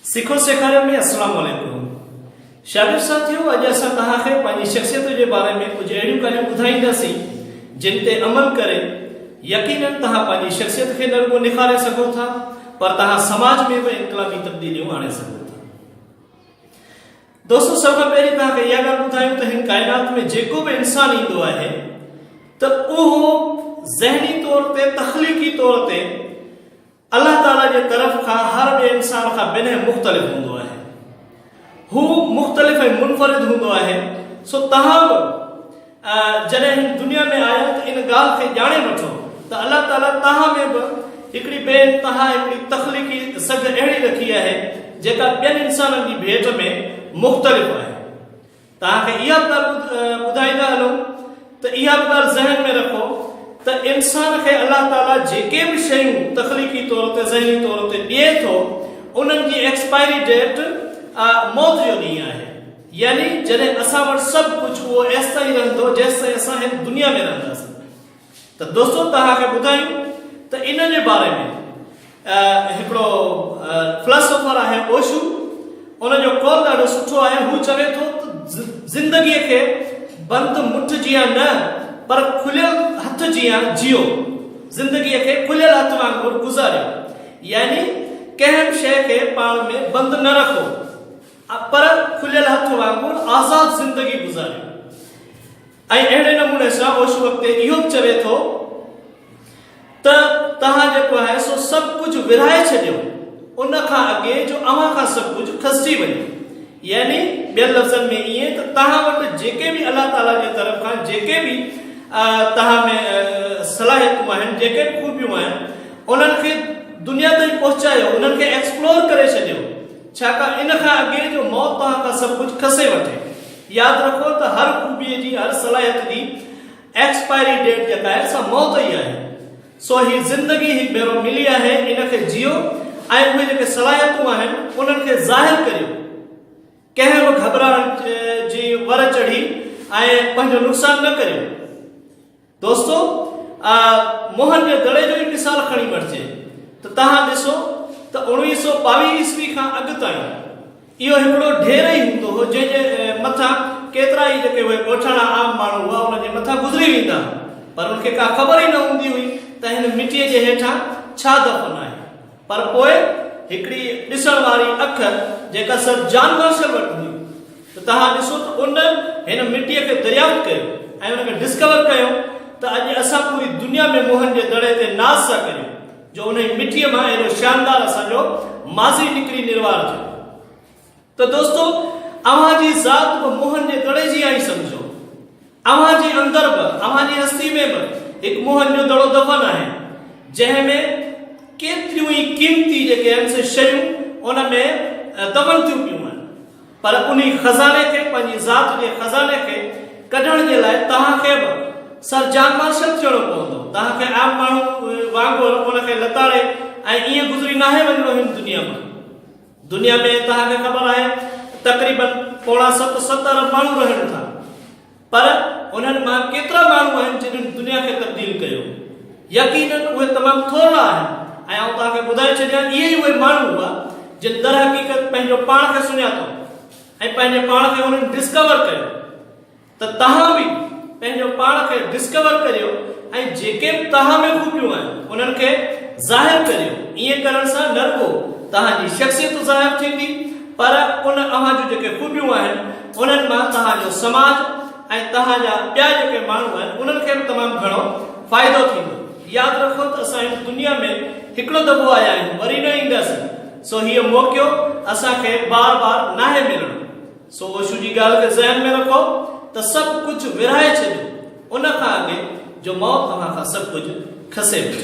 سکو سيکاريو ۾ السلام عليڪم شاگرد ساٿيو اڄ اسان توهان کي پنهنجي شخصيت جي باري ۾ ڪجهه اهڙيون ڳالهيون ٻڌائينداسين جن تي عمل ڪري يقينا توهان پنهنجي شخصيت کي نه رڳو نکاري سگهو ٿا پر توهان سماج ۾ به انقلابي تبديليون آڻي سگهو ٿا دوستو سڀ کان پهرين توهان کي اها ڳالهه ٻڌايون ته هن ڪائنات ۾ جيڪو به انسان ايندو آهي ته اهو ذهني طور تي تخليقي طور تي الله تعالي جي طرف کان هر ٻئي انسان کان بنهه مختلف هوندو آهي هو مختلف ۽ منفرد هوندو آهي سو توهان به جڏهن هن دنيا ۾ آيو ته ان ڳالهه کي ڄاڻي وٺو ته الله تعاليٰ توهان ۾ به هڪڙي ڀيٽ تنها هڪڙي تخليقي سگهه اهڙي رکي آهي جيڪا ٻين انسانن جي ڀيٽ ۾ مختلف آهي. توهان کي اها به ڳالهه ٻڌائيندا هلون ته اها به ڳالهه ذهن ۾ رکو ته انسان کي الله تعاليٰ جيڪي به شيون تخليقي طور تي ذهني طور تي ڏئي ٿو انهن جي ايڪسپائري ڊيٽ موت جو ڏينهن آهي. يعني جڏهن اسان وٽ سڀ ڪجهه اهو ايستائين رهندو جيستائين اسان هن دنيا ۾ رهنداسين ته دوستو توهان کي ٻڌايون ته ان جي باري ۾ هڪڙو فلاسوفر آهي اوشو ان جو قول ڏاڍو سٺو آهي هو چوي ٿو ته زندگي کي بند مٺ جيان نه پر کليل هٿ جيان جيو زندگي کي کليل هٿ وانگر گذاريو يعني ڪنهن به شيء کي پاڻ ۾ بند نه رکو پر کليل هٿ وانگر آزاد زندگي گذاريو ۽ اهڙي نموني سان اوشي وقت اهو به چوي ٿو ته توهان جيڪو آهي سو سڀ ڪجهه ورهائي ڇڏيو ان کان اڳي جو اوهان کان سڀ ڪجهه کسجي وڃي يعني ٻين لفظن ۾ ائين ته توهان وٽ جيڪي به الله تعالي جي طرف کان جيڪي به توهان ۾ صلاحيتون آهن جيڪي به خوبيون آهن انهن کي دنيا تائين پهچايو انهن کي ايڪسپلور ڪري ڇڏيو ڇاڪاڻ ان کان اڳي جو موت توهان کان سڀ ڪجهه کسي وٺي. ياد رکو ته هر خوبيء جي، هر صلاحيت جي ايڪسپائري ڊيٽ جيڪا آهي سا موت ئي آهي. سو هي زندگي هڪ ڀيرو ملي آهي، ان کي جيئو ۽ اهي جيڪي صلاحيتون آهن انهن کي ظاهر ڪريو. ڪنهن به گهٻرائڻ جي ور چڙهي ۽ پنهنجو نقصان نه ڪريو. دوستو آء موهن جي دڙي جو ئي مثال کڻي وٺجي ته توهان ڏسو ته اوڻويهه سؤ ٻاويهه عيسوي کان اڳ تائين اهو هڪڙو ڍير ئي هوندو هو جنهن جي مٿان ڪيترا ئي جيڪي اهي ڳوٺاڻا عام ماڻهو هئا انهن جي مٿان گذري ويندا هئا پر ان کي ڪا خبر ئي نه هوندي هئي ته هن مٽيء جي هيٺان ڇا دفن آهي. پر پوء هڪڙي ڏسڻ واري اک جيڪا سر جان مارشل وٽ هئي ته توهان ڏسو ته ان هن مٽيء کي دريافت ڪيو ۽ ان کي ڊسڪور ڪيو ته اڄ اسان پوري دنيا ۾ موهن جي دڙي تي ناز ٿا ڪريون جو انهي مٽيء مان اهڙو شاندار اسان جو ماضي نڪري نروار ٿيو. ته دوستو اوهان جي ذات به موهن جي دڙي جي آهي سمجهو اوهان جي اندر به اوهان جي هستي ۾ به هڪ موهن جو دڙو دفن آهي جنهن ۾ ڪيتريون ئي قيمتي جيڪي آهن سي شيون ان ۾ دفن ٿيون پيون آهن پر انهي خزاني کي پنهنجي ذات جي خزاني کي ڪڍڻ جي لاء توهان کي به سر جان مارشل ٿيڻو پوندو توهان کي عام ماڻهو وانگر ان کي لتاڙي ۽ ائين گذري ناهي وڃڻو هن دنيا مان دنيا ۾ توهان کي خبر آهي تقريباً پوڻا ست ست ارب ماڻهو رهن ٿا پر انهن مان ڪيترا ماڻهو آهن جنهن دنيا کي تبديل ڪيو يقيناً اهي تمام ٿورڙا آهن ۽ آئون توهان کي ٻڌائي ڇڏيان اهي ئي اهي ماڻهو هئا جن درحقيقت پنهنجو پاڻ کي سڃاتو ۽ پنهنجي پاڻ کي انهن ڊسڪور ڪيو. ته توهان به پنهنجو پاڻ کي ڊسڪور ڪريو ۽ جيڪي به توهان ۾ خوبيون آهن انهن کي ظاهر ڪريو ائين ڪرڻ سان نه رڳو توهان جي شخصيت ظاهر ٿيندي پر ان اوهان جون جيڪي خوبيون آهن انهن مان توهان جو سماج ۽ توهان جا ٻيا جيڪي ماڻهو آهن انهن کي به تمام گهڻو فائدو ٿيندو ياد رکو ته اسان هن دنيا ۾ هڪڙو دفعو آيا آهيون وري نه اينداسين سو هيء موقعو اسان کي بار بار ناهي ملڻو. سو اوشو جي ڳالهه کي ذهن ۾ رکو ته سڀ ڪجهه ورهائي ڇڏيو ان کان اڳي جو موت اوهان کان سڀ ڪجهه کسي وٺي.